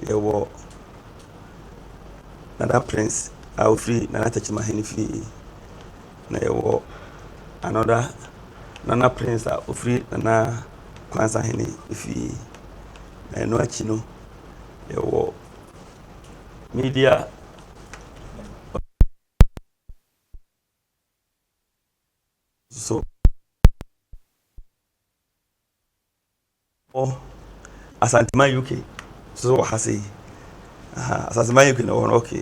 yɛwɔ Nana Prince a ɔfiri Nana Tɛkyima Ahene fie, na yɛwɔ another Nana Prince a ɔfiri Nana Kwanzaa Ahene fie. Na ɛno akyi no, yɛwɔ media so. Wɔ Asanteman UK so wɔ ha sei. Aha, Asanteman UK na wɔ no, okay.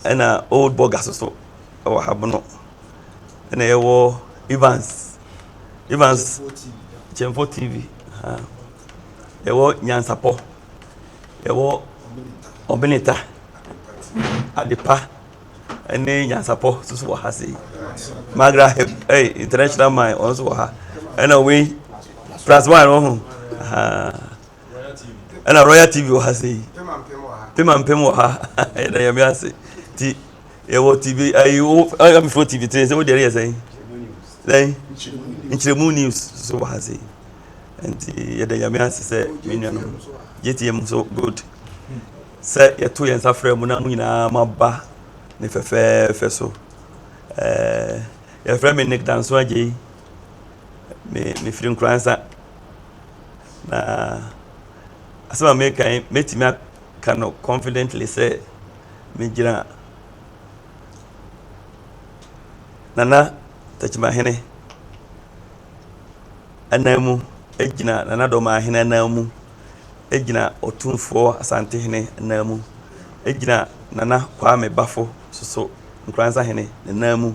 Ɛna Old Burger so so wɔ ha bono. Ɛna yɛwɔ Evans, Evans Kyɛmfo TV. Aha. Yɛwɔ Nyansapɔ, yɛwɔ Ɔbeneta, Adepa, ne nyansapɔ nso wɔ ha sei magra hep ɛy eh, international mine wɔn nso wɔ ha ɛna wei plus one wɔn ho ɛna royal tv wɔ ha sei pema mpem wɔ ha ɛna yɛn mi ase ti yɛwɔ tv ayi wo ɛyɛ mi fo tv tiri sɛ o deɛ yɛ sɛn sɛn nkyerɛmu news so wɔ ha sei nti yɛda yɛn mi ase sɛ mi nuanom yɛ ti yɛ mu so good. Sɛ yɛto yɛn nsa frɛ mo na mo nyinaa moaba ne fɛfɛɛfɛ so. Eh, yɛfrɛ me Nick Danso Agyei. Me, mefiri Nkoransa. Na asɛm a meka yi, mɛtumi aka no confidently sɛ megyina Nana Takyimahene anan mu, gyina Nana Dɔmahene anan mu. gyina Otumfoɔ Asantehene nan mu, ɛgyina Nana Kwame Bafo soso Nkransahene ne nan mu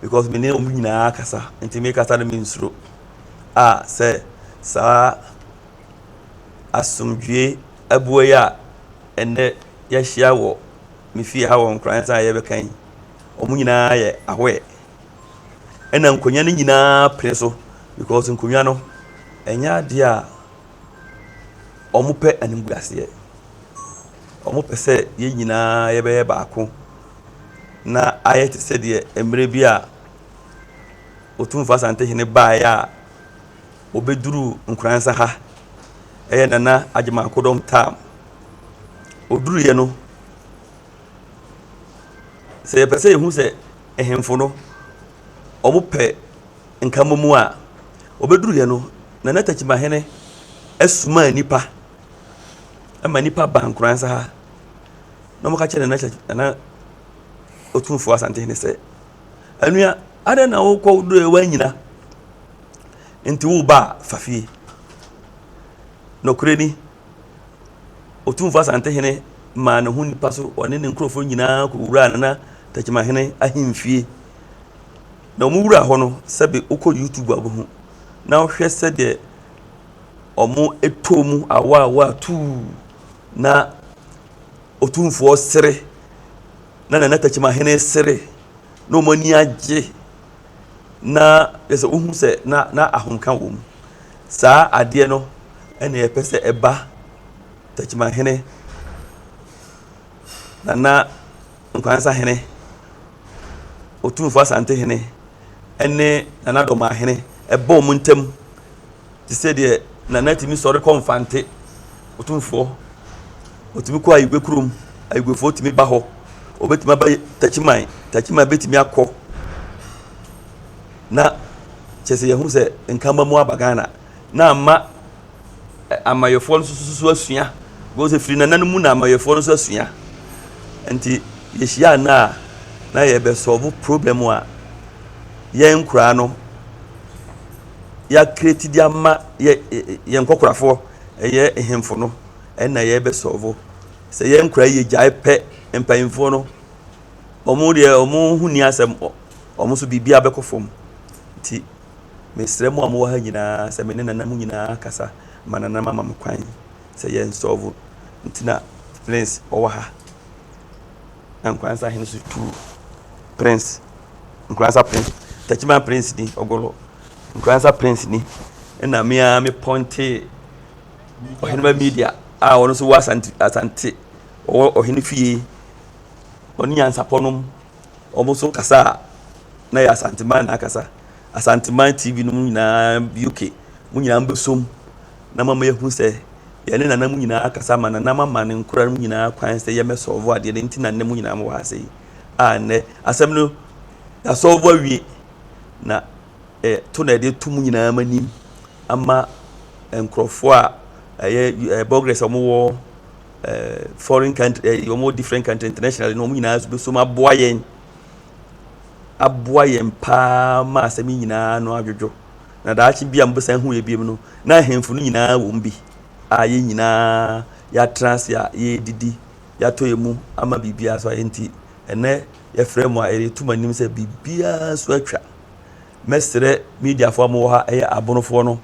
because me ne wɔn nyinaa kasa nti me kasa no me nsuro a sɛ saa asomdwie abuo yi a ɛnɛ yɛahyia wɔ me fie ha wɔ Nkransa a yɛbɛka yi wɔn nyinaa yɛ ahoɛ ɛna nkonnwa no nyinaa pene so because nkonnwa no ɛnyɛ adeɛ a wɔpɛ animguaseɛ. Wɔpɛ sɛ yɛn nyinaa yɛbɛyɛ baako na ayɛ te sɛ deɛ mmerɛ bi a Otumfoɔ Asantehene baeɛ a ɔbɛduruu Nkoransa ha, ɛyɛ Nana Agyeman Kodɔm term. Ɔduruiɛ no, sɛ yɛpɛ sɛ yɛhu sɛ ahemfo no, wɔpɛ. Nkamomu a obeduruiɛ no, na na Takyimahene asuma nnipa ma nnipa ba Nkoransa ha na wɔka kyerɛ Nana Nana Otumfoɔ Asantehene sɛ, anua, adɛn na wokɔ woduruiɛ woanyina nti woba a fa fie. Nokorɛ ni, Otumfoɔ Asantehene maa ne ho nnipa so ɔne ne nkurɔfoɔ nyinaa kɔwuraa Nana Takyimahene ahemfie. Na wɔn wura hɔ no sɛbe wokɔ YouTube a wobɛhu na wohwɛ sɛdeɛ wɔtɔɔ mu awɔ awɔ a tuu na Otumfoɔ sere na Nana Takyimahene sere na wɔn ani agye na yɛ sɛ wohu sɛ na na ahomka wɔ mu. Saa adeɛ no ɛna yɛpɛ sɛ ɛba Takyimahene Nana Nkoansa hene, Otumfo Asante hene ne Nana Domaa hene ɛbɔ wɔn ntam te sɛ deɛ Nana tumi sɔre kɔ Mfante, Otumfoɔ, ɔtumi kɔ Ayigwe kurom, Ayigwefoɔ tumi ba hɔ, ɔbɛtumi aba Takyiman, Takyiman bɛtumi akɔ na kyɛ sɛ yɛhu sɛ Nkamba mu aba Ghana na ama Amayɛfoɔ no nso so asua. Bɛhu sɛ firi nana no mu na amayɛfoɔ no nso asua. Nti yɛhyia nna a na yɛbɛsɔlvo problem a yɛn nkoraa no yɛakreti de ama yɛ yɛn nkɔkorafoɔ ɛyɛ hemfo no ɛna yɛbɛsɔlvo. Sɛ yɛn nkoraa yɛ gyae pɛ mpanyinfoɔ no wɔn deɛ wɔn ho ni asɛm wɔn nso biribiara bɛkɔ fam. Nti Mesrɛ mo a mowɔ ha nyinaa sɛ me ne nananom nyinaa akasa ma nananom ama me kwan sɛ yɛn nsɔɔfo nti na Prince ɔwɔ ha. Na Nkoranza hene so tuu Prince Nkoranza Prince Takyiman Prince ni ɔgɔlɔ Nkoranza Prince ni ɛna me a me pɔnte ɔhene ba media a ɔno nso wɔ asante asante ɔwɔ ɔhene fie ɔne nyansapɔnom Wɔn nso kasa a na ɛyɛ Asanteman na akasa. Asanteman TV no mu nyinaa UK mu nyinaa bɛsom na mama yɛahu sɛ yɛne nana mu nyinaa akasa ma nana mama ne nkora no mu nyinaa kwan sɛ yɛmmɛsɔlvo adeɛ no nti na nnɛ mu nyinaa mowɔ ha sɛ yi a nnɛ asɛm no yɛasɔlvo awie na eh, to na ɛde to mu nyinaa ma nim ama nkurɔfoɔ a ɛyɛ eh, bɔgrɛs a wɔwɔ foreign country ɛɛ eh, wɔn wɔ different country internationally na wɔn nyinaa nso bɛsom aboa yɛn aboa yɛn paa ma asɛm yi nyinaa no adwodwo na daakye bi a mobɛsan hu yɛ biom no na ahemfo no nyinaa wɔm bi a yɛn nyinaa yɛatra ase a yɛredidi yɛatɔ yɛ mu ama biribiara so ayɛ nti ɛnɛ yɛfrɛ mu a yɛreto mu anim sɛ biribiara so atwa mɛsrɛ mediafoɔ a mowɔ ha ɛyɛ abonofoɔ no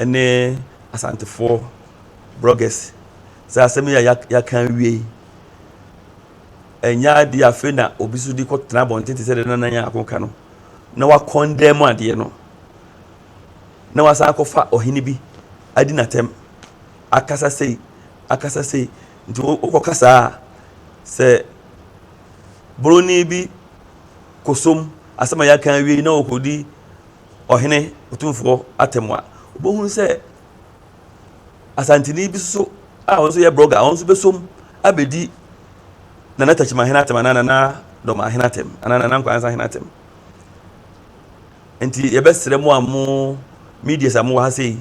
ne Asantefoɔ bloggers sɛ asɛm yi a yɛaka awie yi ɛnyɛ adeɛ afei na obi so de kɔtena abɔnten te sɛ deɛ nana yɛn ako ka no na wakɔn dɛn mu adeɛ no na wasan akɔfa ɔhene bi adi n'atɛm akasa sei akasa sei nti wokɔka saa a sɛ buroni bi kɔsom asɛm a yɛaka awie yi na wɔkɔdi ɔhene otumfoɔ atɛm a, wobɛhunu sɛ asanteni bi so a ɔno nso yɛ brɔga a ɔno nso bɛsom abɛdi nana takyima hene atɛm anaa nana dɔma hene atɛm anaa nana nkwansa hene atɛm nti yɛbɛsrɛ mo a mo medias a mowɔ ha sei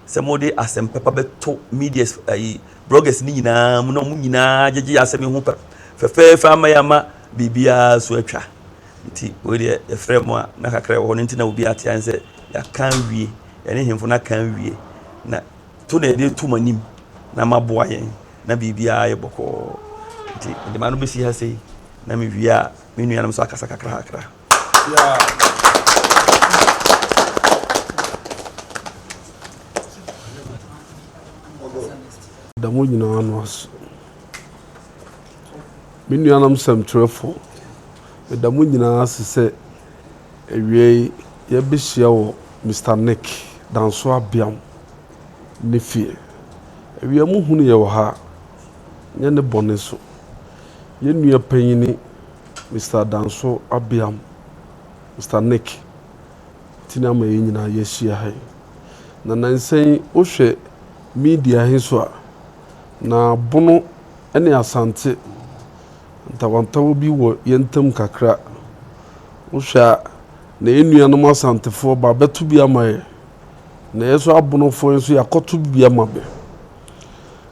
sɛ mode asɛm pɛpa bɛto medias ayi brɔgas no nyinaa mu na ɔmo nyinaa gyegye asɛm yi ho pɛ fɛfɛɛfɛ ama yɛ ama biribiara so atwa Nti wei deɛ yɛfrɛ mo a na kakra ɛwɔ hɔ no nti na obi ate an sɛ yɛaka awie yɛne hemfo no aka awie na to na yɛde to mo anim na maboa yɛn na biribiara yɛ bɔkɔɔ nti mede ma no bɛsi ha sei na mewie a me nuanom nso akasa kakra kakra da mo nyinaa no aso Me nuanom sɛmtwerɛfo, meda mo nyinaa ase sɛ awiei yɛbɛhyia wɔ Mister Nick Danso Abiam ne fie. Awia mu hunu yɛ wɔ ha, nyɛ ne bɔne so. Yɛn nua panyin Mister Danso Abiam, Mister Nick, ti na ama yɛn nyinaa yɛahyia ha yi. Na nnansa yi wohwɛ media he so a, Na Bono ne Asante, ntawantawa bi wɔ yɛn ntam kakra. Wohwɛ a, na yɛn nuanom Asantefoɔ ba bɛto bi ama yɛn, na yɛn nso Abonofoɔ yi nso yɛakɔto bi ama me.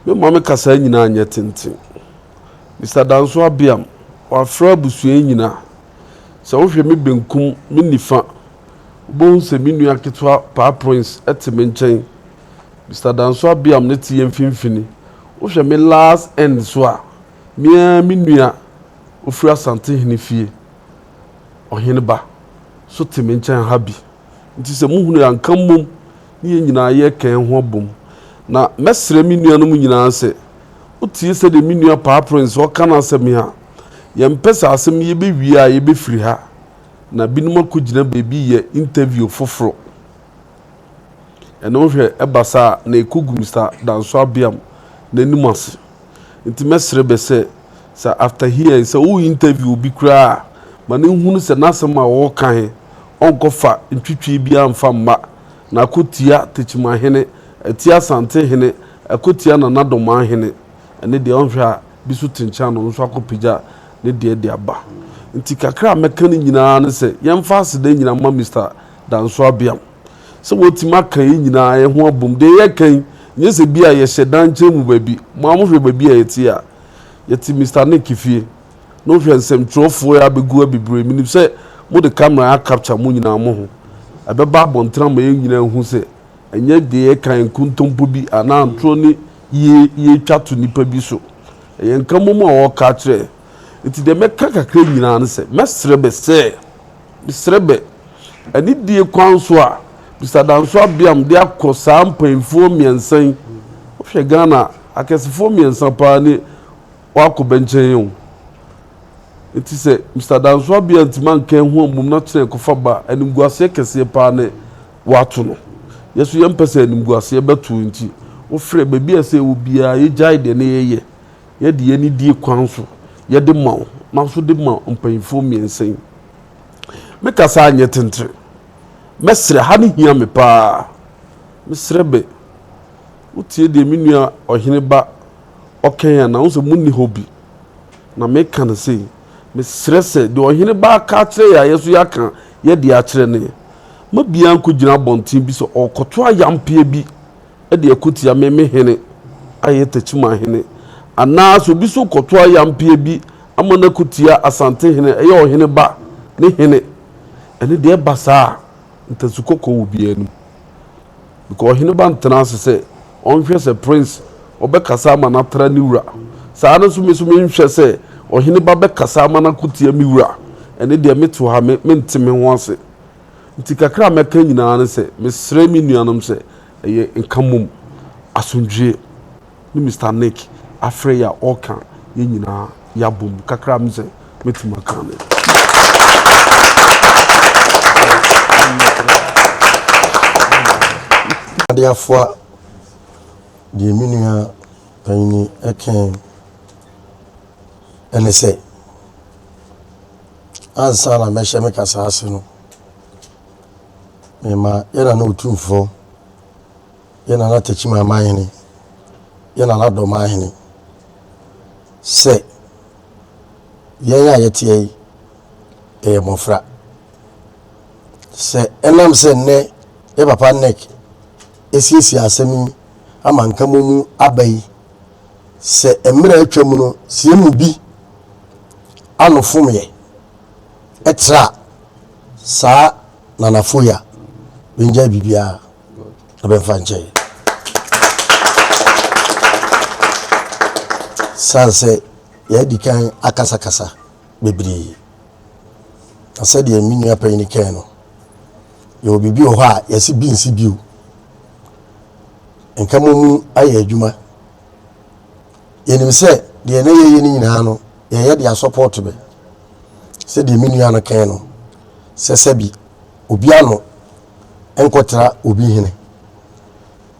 Me maame kasaa nyinaa nyɛ tenten. Mister Danso Abiam, wafra abusua yi nyinaa. Sɛ wohwɛ me benkum, me nifa, wobɛhu sɛ me nua ketewa Paa Prince te me nkyɛn. Mister Danso Abiam ne te yɛn mfimfini. Wohwɛ me last end so a, me ara me nua ofiri Asantehene fie, Ɔheneba, so te me nkyɛn ha bi. Nti sɛ mohunu yɛn a, nka mmom ne yɛn nyinaa yɛka yɛn ho abom. Na mɛsrɛ me nuanom nyinaa sɛ, wotie sɛdeɛ me nua Paa Prince ɔreka no asɛm yi a, yɛmpɛ sɛ asɛm yi yɛbɛwie a yɛbɛfiri ha, na binom akɔgyina baabi reyɛ interview foforɔ. Ɛnna wohwɛ ɛba saa a, na ɛkɔ gu Mister Danso Abiam n'anim ase. Nti mɛsrɛ bɛ sɛ, sɛ after hearing sɛ wo interview obi koraa a, ma no nhunu sɛ n'asɛm a ɔreka he, ɔnkɔfa ntwitwie biaa mfa mma, na akɔtia Tekyimahene, atia Asante hene, akɔtia Nana Domaa hene. Ɛne deɛ ɔnhwɛ a, bi so te nkyɛn a na ɔno nso akɔpagya ne deɛ de aba. Nti kakra a mɛka ne nyinaa ne sɛ, yɛmfa aseda nyina mma Mister. da nso abeam. Sɛ wɔatumi aka yɛn nyinaa yɛn ho abom, deɛ yɛreka yi, nyɛ sɛ bi a yɛhyɛ dan nkyɛn mu baabi. Mo ara mohwɛ baabi a yɛte a. Yɛte Mister Nick fie. Na wohwɛ nsɛmtwerɛfoɔ yi abɛgu abibire. Menim sɛ mode camera acapture mo nyinaa mo ho. Ɛbɛba abɔnten ama yɛn nyinaa ahu sɛ ɛnyɛ deɛ yɛka yi nkontompo bi anaa ntorɔ ne yie yɛretwa to nnipa bi so. Ɛyɛ nka mmom a wɔreka akyerɛ yɛn. Enti deɛ mɛka kakra nyinaa ne sɛ, mɛsrɛ bɛ sɛ. Mesrɛ bɛ, anidie kwan so a, Mister Danso Abiam de akɔ saa mpainfoɔ mmiɛnsa yi, wo hwɛ Ghana a, akɛsefoɔ mmiɛnsa paa ne wɔakɔ bɛ nkyɛn yi o. Nti sɛ Mister Danso Abiam ntumi anka yɛn ho ammom na kyena ɛkɔfa ba a, animguaseɛ kɛseɛ paa ne wɔato no. Yɛ nso yɛmpɛ sɛ animguaseɛ bɛto wo nti, wo frɛ, baabi a ɛsɛ yɛwɔ biara, yɛgyae deɛ ne yɛyɛ, Yɛde yɛn anidie kwan so yɛde ma wo, maso de ma mpanyinfoɔ mmiɛnsa yi. Me kasa anyɛ tentere. Mɛsrɛ, ha no hia me paa. Mesrɛ bɛ, wotie deɛ me nua ɔhene ba ɔkɛn anaa? Wo sɛ mo nni hɔ bi. Na meka no sei, mesrɛ sɛ deɛ ɔhene ba aka akyerɛ yɛ a yɛ so yɛaka yɛde akyerɛ no yɛ. Ma biara nkɔgyina abɔnten bi sɛ ɔrekɔto ayampeɛ bi de ako tia me, me hene a ɛyɛ Techiman hene, anaa sɛ obi nso rekɔto ayampeɛ bi ama no ako tia Asante hene a ɛyɛ ɔhene ba ne hene, ɛno deɛ ɛba saa a, ntasu kɔkɔɔ wɔ obiara anim. Because ɔhene ba ntena ase sɛ ɔnhwɛ sɛ prince ɔbɛkasa ama no atra ne wura. Saa ara nso me nso menhwɛ sɛ ɔhene ba bɛkasa ama no ako tia me wura, ɛno deɛ mete hɔ a, mente me ho ase. Nti kakra a mɛka nyinaa ne sɛ mesrɛ me nuanom sɛ ɛyɛ nka mmom, asomdwoeɛ, ne Mister Nick afrɛ yɛ a ɔreka yɛn nyinaa yɛabom kakra a me sɛ mɛtumi aka ne. Ade afoa deɛ me nua panyini ɛkɛn ɛne sɛ ansa na mɛhyɛ me kasa ase no, mema yɛn Nana Otumfoɔ, yɛn Nana Takyiman Amanhene, yɛn Nana Dɔmanhene sɛ yɛn a yɛteɛ yi yɛyɛ mmɔfra. Sɛ ɛnam sɛ nnɛ yɛ papa NEC asiesie asɛm yi ama nka mu aba yi sɛ mmerɛ a atwa mu no sɛ yɛn mu bi ano fomeɛ tra saa nanafo yi a, bɛngyae biribiara na bɛmfa nkyɛe. San sɛ yɛadi kan akasakasa bebree. Na sɛdeɛ me nua panyin kae no, yɛwɔ biribi wɔ hɔ a yɛse bi nsi bio. Nka mommu ayɛ adwuma. Yɛnim sɛ deɛ na yɛyɛ no nyinaa no, yɛyɛ de asɔpɔɔto bɛ. Sɛdeɛ me nua no kae no, sɛ sɛbi obi ano nkɔtra obi hene.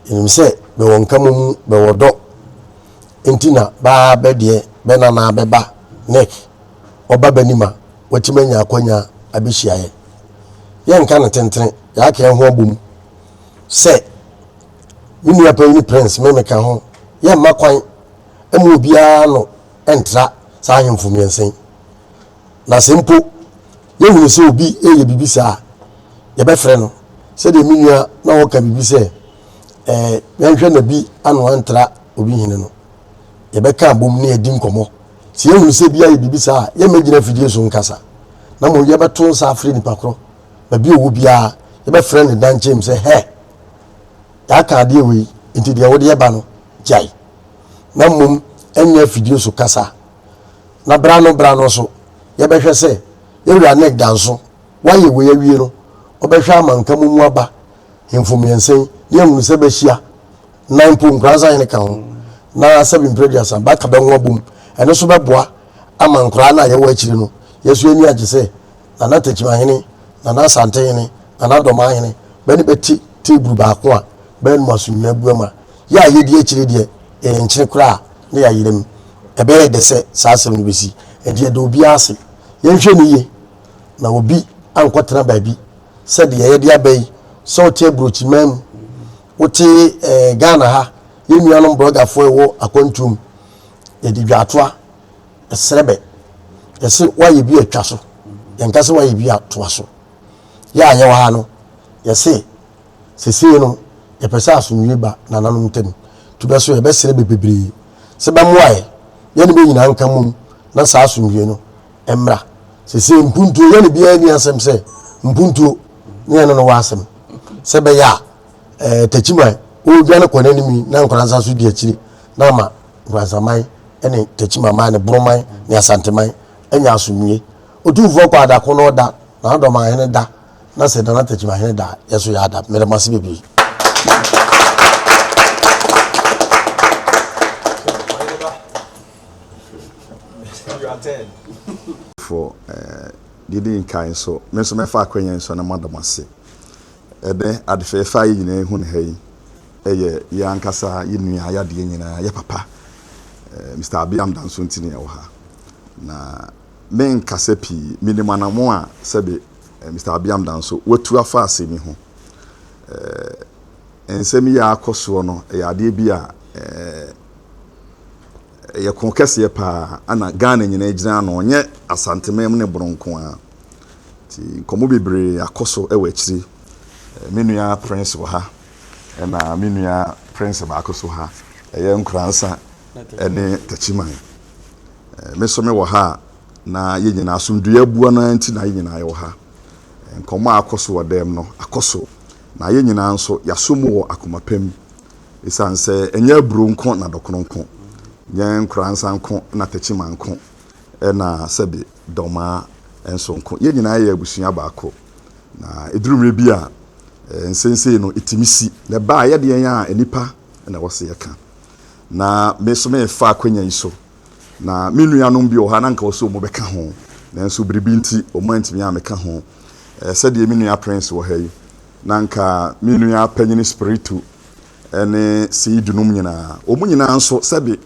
Yɛnim sɛ bɛwɔ nka mommu, bɛwɔ dɔ, nti na baa bɛ deɛ bɛ nanaa bɛ ba Nick ɔba bɛ nim a watumi anya akwanya abɛhyia yɛ. Yɛnka no tentene, yɛaka yɛn ho abom sɛ me nua panyin Prince me meka ho, yɛmma kwan mma obiara ano ntra saa ahemfo mmiɛnsa yi. Na sɛ mpo yɛhunu sɛ obi reyɛ biribi saa a, yɛbɛfrɛ no. Sɛdeɛ me nua na ɔka biribi sɛ ɛɛ yɛnhwɛ na bi ano antra obi hene no, yɛbɛka abom ne yɛadi nkɔmmɔ. Sɛ yɛhunu sɛ bi ayɛ biribi saa a, yɛmmɛgyina afidie so nkasa, na mmom yɛbɛto nsa afrɛ nipa korɔ baabi a ɔwɔ biara, yɛbɛfrɛ no dan kyɛm sɛ, Hɛ! Yɛaka adeɛ wei, nti deɛ wode ba no, gyae. Na mmom ɛnyɛ afidie so kasa. Na berɛ ano berɛ ano nso, yɛbɛhwɛ sɛ yɛn wura Nick da nso, wayɛ wei awie no, ɔbɛhwɛ ama Nkamomu aba hemfo mmiɛnsa yi, na yɛahunu sɛ bɛahyia, na mpo Nkoranza hene ka ho, na sɛbe mprɛ aduasa bɛaka bɛho abom. Ɛno nso bɛboa ama nkoraa no a yɛwɔ akyire no, yɛn nso yɛn ani agye sɛ, Nana Tekyimahene, Nana Asantehene, Nana Dɔmanhene bɛ ne bɛ te teeburu baako a bɛ anom aso nyina abuam a, yɛ a yɛdi akyire deɛ yɛyɛ nkyene koraa na yɛayera mu. Ɛbɛyɛ dɛ sɛ saa asɛm no bɛsi. Ɛnti yɛda obiara ase. Yɛnhwɛ no yie na obi ankɔtena baabi sɛ deɛ yɛde aba yi, sɛ wote aburokyiman mu, wote ɛɛ Ghana ha, yɛn nuanom brɔgafoɔ a ɛwɔ akwantuom, yɛde dwaatoa, Ɛsrɛ bɛ. Yɛse woayɛ bi a twa so. Yɛnka sɛ woayɛ bi a toa so. Yɛ a yɛwɔ ha no, yɛse sesei no yɛpɛ sɛ asomdwie ba nananom ntam. Tu bɛ so, yɛbɛsrɛ bɛ bebree sɛ bɛmmoa yɛ. Yɛne bɛ nyinaa nka mmom na saa asomdwie no mmra. Sesei mpuntuo, yɛne biara nni asɛm sɛ mpuntuo ne yɛne no wɔ asɛm. Sɛ ɛbɛyɛ a, ɛɛ, takyiman, ɔredwane kɔ n'anim yi na nkwadaa nsa so di akyire. na ama Nkransaman ne Techimanman ne Boroman ne Asanteman anya asomdwie. Otumfoɔ kɔ a da ko na ɔda, Nanadoman hene da, na sɛ Nana Techiman hene da a, yɛn nso yɛada. Meda mo ase bebree. fo didi nkan nso me nso mɛfa akwanya yi so na mada mo ase ɛdɛ adefɛɛfɛ a yɛ nyinaa ehu no ha yi Ɛyɛ yɛn ankasa yɛn nua yadeɛ nyinaa yɛ papa. Mister Abiam Dansonti ne ɛwɔ ha. Na me nkasa pii, me nim anamɔn a sɛbe Mister Abiam Danso watu afa asɛm yi ho. Eh, nsɛm yi a akɔ soɔ no, ɛyɛ adeɛ bi a eh, ɛyɛ ko kɛseɛ paa, ana Ghana nyinaa gyina ano, ɔnyɛ Asanteman mu ne Bono nko a. Ti nkɔmmɔ bebree akɔ so ɛwɔ akyiri. Eh, me nua Prince wɔ ha. Ɛna me nua Prince baako so ha, ɛyɛ Nkoransa ne Takyiman. Me so me wɔ ha a, na yɛn nyinaa asomdwoeɛ abua no nti na yɛn nyinaa yɛwɔ ha. Nkɔmmɔ a akɔ so wɔ dɛm no akɔ so, na yɛn nyinaa nso yɛaso mu wɔ akoma pa mu. Ɛsiane sɛ ɛnyɛ aburo nko na dɔkono nko, nyɛ Nkoransa nko na Takyiman nko, ɛna sɛbe Dɔmaa nso nko. Yɛn nyinaa yɛ abusua baako. Na ɛduru mmerɛ bi a, nsensee no ɛtumi si. Na ɛba a, yɛdeɛn a nnipa na ɛwɔ sɛ yɛka. Na me nso merefa akwanya yi so. Na me nuanom bi wɔ hɔ a, na anka wɔsɛ wɔn bɛka ho. Nanso biribi nti, wɔn antumi ammɛka ho. Sɛdeɛ me nua Prince wɔ ha yi, na anka me nua panyini Spiritu ne Seed nom nyinaa. Wɔn nyinaa nso, sɛbe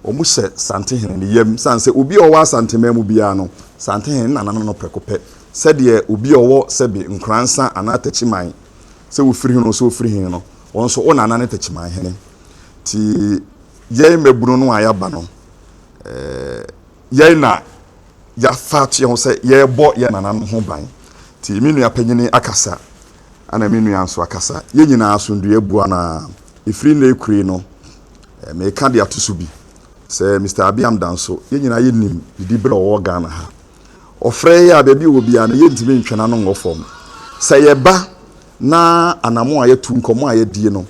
wɔn hyɛ Santehene ne yam. Sane sɛ obi a ɔwɔ Asanteman mu biara no, Santehene ne nananom no prɛko pɛ sɛdeɛ obi a ɔwɔ sɛbe nkoransa anaa takyiman sɛ wofiri he no sɛ ofiri he no, ɔno nso wo nana ne takyiman hene. Nti yɛn mmabunu no a yɛaba no, yɛn na yɛafa ato yɛn ho sɛ yɛrebɔ yɛn nananom ho ban. Nti me nua panyini akasa, ɛna me nua nso akasa. Yɛn nyinaa asomdwoeɛ aboa no ara. Ɛfiri nnɛ rekure no, meka de ato so bi sɛ Mister Abiam Danso, yɛn nyinaa yɛnim didiberɛ a ɔwɔ Ghana ha. Ɔfrɛ yɛn a, baabi a ɔwɔ biara no, yɛntumi ntwe n'ano nwɔ fam. Sɛ yɛba na anammɔn a yɛatu, nkɔmmɔ a yɛadie no,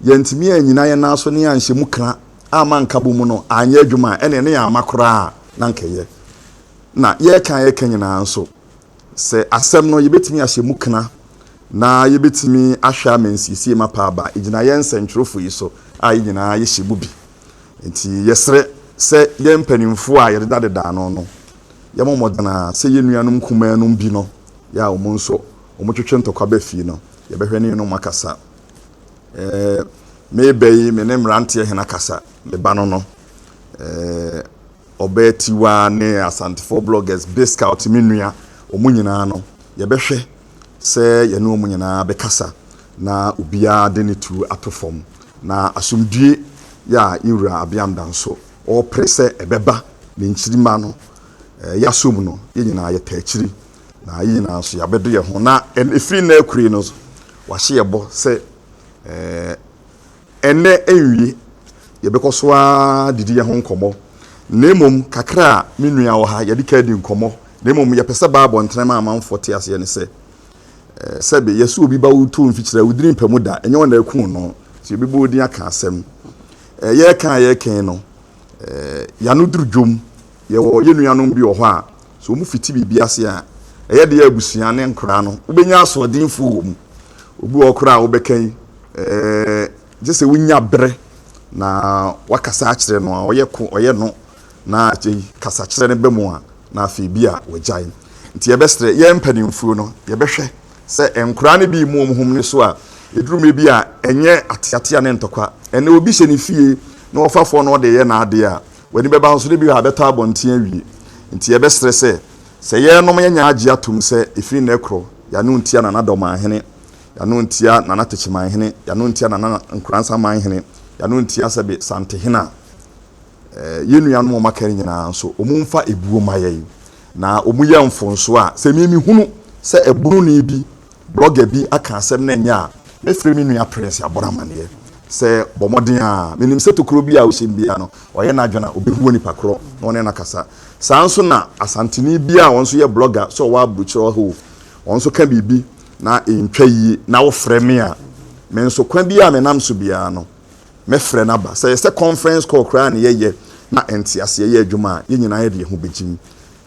yɛantumi annyina yɛn nan so na yɛanhyɛ mu kra amma nkabom mu no anyɛ adwuma a, ɛnneɛ na yɛamma koraa na anka ɛyɛ. Na yɛreka a yɛreka nyinaa nso, sɛ asɛm no, yɛbɛtumi ahyɛ mu kra na yɛbɛtumi ahwɛ ama nsiesie mapa aba, ɛgyina yɛn nsɛntwerɛfoɔ yi so a yɛn nyinaa yɛhyɛ mu bi. Enti yɛsrɛ sɛ yɛn mpanyimfo a yɛdeda deda ano no, yɛmmɔ mmɔden ara sɛ yɛn nuanom nkumanom bi no yɛ a wɔn nso wɔtwetwe ntɔkwa ba fie no, yɛbɛhwɛ ne yɛne wɔn akasa. Ɛɛ, me ba yi, me ne mmeranteɛ hena kasa? Me ba no no, ɛɛ, Ɔbaa Tiwa ne Asantefoɔ bloggers, Bscout, me nua, wɔn nyinaa no, yɛbɛhwɛ. sɛ yɛne wɔn nyinaa bɛkasa na obiara de ne tuo ato fam, na asomdwoe yi a yɛn Wura Abiam da nso ɔrepere sɛ ɛbɛba ne nkyirimma no, yɛn aso mu no, yɛn nyinaa yɛtaa akyiri, na yɛn nyinaa nso yɛabɛdɔ yɛn ho, na ɛfiri nnɛ akurei no nso, wɔahyɛ yɛn bɔ sɛ, eh, Ɛnnɛ ɛnwie, yɛbɛkɔ so ara adidi yɛn ho nkɔmmɔ, na mmom kakra a me nua wɔ ha, yɛde ka di nkɔmmɔ, na mmom yɛpɛ sɛ Bible ntɛnɛm a amanfoɔ te aseɛ ne sɛ, sɛbe yɛse obi ba wo to mfikyire a, wo dini mpɛ mu da, ɛnyɛ wɔn na ɛkuu no, nti yɛbɛbɔ wo din aka asɛm. Yɛreka a yɛreka yi no, yɛano duru dwom. Yɛwɔ yɛn nuanom bi wɔ hɔ a, sɛ wɔfiti biribi ase a, ɛyɛ den a abusua ne nkoraa no wobɛnya asoɔdenfoɔ wɔ mu. Obi wɔ hɔ koraa a wobɛka yi, gye sɛ wonya berɛ na woakasa akyerɛ no a, ɔyɛ ko, ɔyɛ no, na akyei kasakyerɛ no ba mu a, na afei bi a wagyae. Nti yɛbɛsrɛ yɛn mpanimfuo no, yɛbɛhwɛ sɛ nkoraa no bi remu wɔn ho mene so a, ɛduru mmerɛ bi a, ɛnyɛ ateatea ne ntɔkwa. Ɛnnɛ obi hyɛ ne fie na ɔfafoɔ no ɔde reyɛ n'adeɛ a, W'ani bɛba ho nso dɛ bi a bɛtɔ abɔnten awie. Ntsi yɛbɛserɛ sɛ, sɛ yɛrenom yɛnyɛ agye ato mu sɛ efi nnɛ krɔ yɛano ntsia Nana Dɔmanhene, yɛano ntsia Nana Tekyemanhene, yɛano ntsia Nana Nkoransamanhene, yɛano ntsia Sɛbe Santehene a. Yɛn nuanom a wɔaka no nyinaa nso, wɔmfa ebuo mma yɛn, na wɔnyɛ mfonso a sɛ me mehunu sɛ ɛbononii bi Blɔga bi aka asɛm na ɛnyɛ a, mɛfrɛ me nua Prince abɔ no amanneɛ sɛ, Bɔ mmɔden ara. Menim sɛ tokuro biara a wohyem biara no, wayɛ n'adwene a, ɔbɛhu onipa korɔ na ɔne no akasa. Saa ara nso na Asanteni bi a ɔno nso yɛ blɔga, sɛ ɔwɔ aburokyire ɔha o, ɔno nso ka biribi na ɛntwa yie na wofrɛ me a, me nso kwan biara a menam so biara no, mɛfrɛ no aba. Sɛ ɛyɛ sɛ conference call koraa na yɛyɛ na nteaseɛ yɛ adwuma a, yɛn nyinaa yɛde yɛn ho bɛgyim.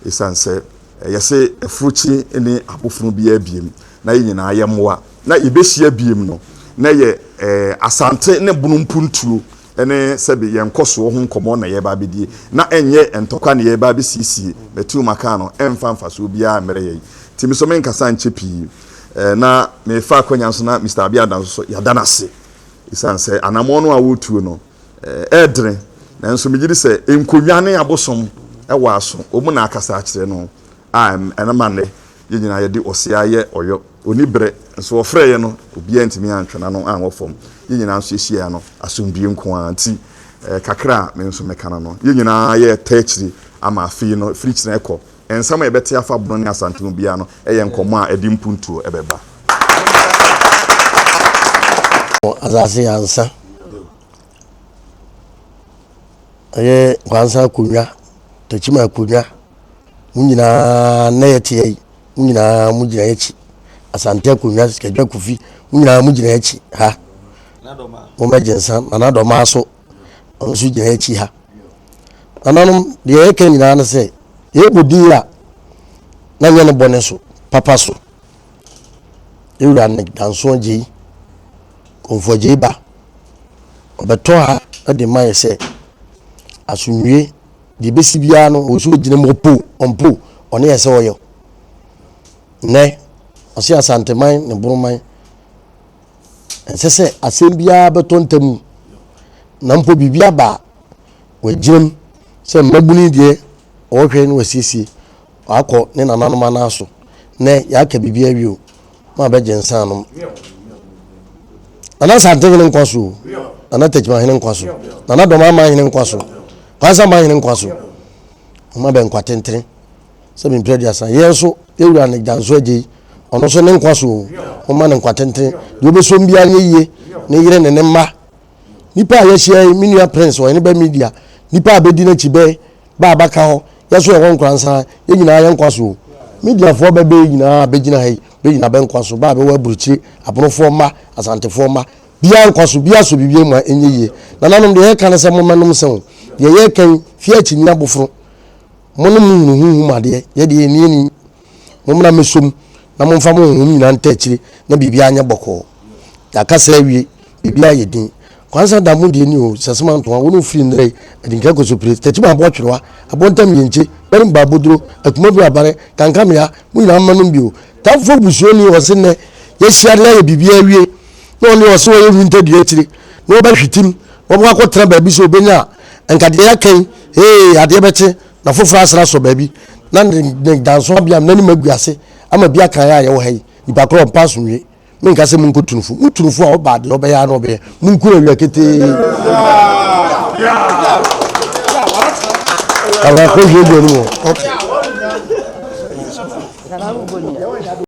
Esiane sɛ ɛyɛ sɛ afuruci ne abofunu biara biem na yɛn nyinaa yɛ mmoa na yebehyia biem no, na ɛyɛ Asante ne Bono mpuntuo ne sɛbe yɛn nkɔsoɔ ho nkɔmmɔ na yɛreba abɛdie, na ɛnyɛ ntɔkwa na yɛreba abɛsiesie. Matiu maka no, ɛmfa mfasoɔ biara mmrɛ yɛn. Nti me nso menkasa nkyɛ pii, na merefa akwanya nso na Mister Abiada nso so, yɛada no ase esiane sɛ anammɔn no a woretuo no, ɛɛdene, nanso megye di sɛ nkonnwa ne abosom wɔ aso. Wɔn na akasa akyerɛ no a ɛma nnɛ yɛn nyinaa yɛde ɔsea yɛ ɔyɔ. Onni bere, nso wɔfrɛɛ yɛn no, obiara antumi antwe n'ano anwɔ fam. Yɛn nyinaa nso yehyiae no, asomdwoe nko ara nti. Kakra a me nso meka no no, yɛn nyinaa yɛrepɛ akyiri ama afei no, firikyiri rekɔ Nsɛm a yɛbɛte afa Bono ne Asante ho biara no yɛ nkɔmmɔ a ɛde mpuntuo bɛba. Wɔ asase yɛ ansa ɛyɛ kwansa akonnwa takyima akonnwa mu nyinaa na yɛte yɛ mu nyinaa mu gyina akyi asante akonnwa sikadwa kofi mu nyinaa mu gyina akyi ha wɔmɛgye nsa ma no adɔma so ɔno nso gyina akyi ha. Nananom, deɛ yɛka nyinaa no sɛ, yɛbɔ din a, na nyɛ ne bɔne so, papa so. Ewura ne dansoɔ gyei, kɔmfoɔ gyei ba, ɔbɛtɔ ha de ma yɛ sɛ, asomdwie, deɛ bɛsi biara no, ɔwɔ sɛ ɔgyina mu, ɔpo, ɔmpo, ɔne yɛ sɛ ɔyɛ. Nnɛ, ɔse Asanteman ne Boroman, ɛnsɛ sɛ asɛm biara bɛtɔ ntam na mpo biribi aba a wɔagyinam sɛ mmabunu deɛ ɔhwɛ na wasiesie wakɔ ne nananom anan so nɛ yɛaka biribi awie o mo a bɛgye nsa anom nana santehene nkwa so nana takyimahene nkwa so nana dɔma ama hene nkwa so kwansa ma hene nkwa so ɔma bɛ nkwa tentene sɛ mempira aduasa. Yɛn nso, yɛn wura ne Gyanso agya yi, ɔno nso ne nkwa so o, momma no nkwa tenten. Deɛ ɔbɛsɔ mu biara nyɛ yie, ne yere ne ne mma. Nnipa a yɛahyia yi, me nua Prince, ɔhene bɛ media, nnipa a bɛdi n'akyi bɛ, bɛ a bɛaka hɔ, yɛn nso yɛwɔ Nkoransa ha, yɛn nyinaa yɛn nkwa so o. Mediafoɔ bɛ bɛ nyinaa a bɛgyina ha yi, bɛ nyinaa bɛ nkwa so, bɛ a bɛwɔ aburokyire, abonofoɔ mma, Asantefoɔ mma, biara nkwa so, biara sɔ biribiara mu a ɛnyɛ yie. Nananom, deɛ yɛka ne sɛ mommɛnom nsã o, deɛ yɛka yi, fie akyinnye aboforo, Mo ne mo hunu honhom adeɛ, yɛ deɛ yɛnni yɛnni. Mommra mmɛsɔ mu na momfa mo honhom nyinaa ntaa akyire na biribiara nyɛ bɔkɔɔ. Yɛaka saa awie, biribiara ayɛ din. Kwansa da mo deɛ ni o, Sasima Antoa, wo ne wo firi nnɛrɛ yi, Adinkra Kosopire, Takyima Aboɔ Twerewa, Abontam Yenkye, Gbarim Baaboduro, Atumabue Abare, Kankamea, mo nyinaa mma nom bi o. Tamfoɔ Busuani, ɔse nnɛ yɛahyia na yɛayɛ biribiara awie na ɔno deɛ ɔse ɔyɛ wintadua akyire na ɔbɛhwetem na ɔbɛkɔ akɔtena baabi sɛ ɔbɛnya a, nka deɛ yɛaka yi Ee, adeɛ bɛkye na afoforɔ asene asɔ baabi, na ne ne danso abea no n'anim agu ase ama bi aka yɛn a yɛwɔ ha yi. Nnipa korɔ ɔmpa so nwie. Menka sɛ monkɔ tu no fo. Motu no fo a, ɔba a, deɛ ɔbɛyɛ ara na ɔbɛyɛ. Monku no awia ketee. Awurade, kɔhwie aduane mu hɔ. Okay.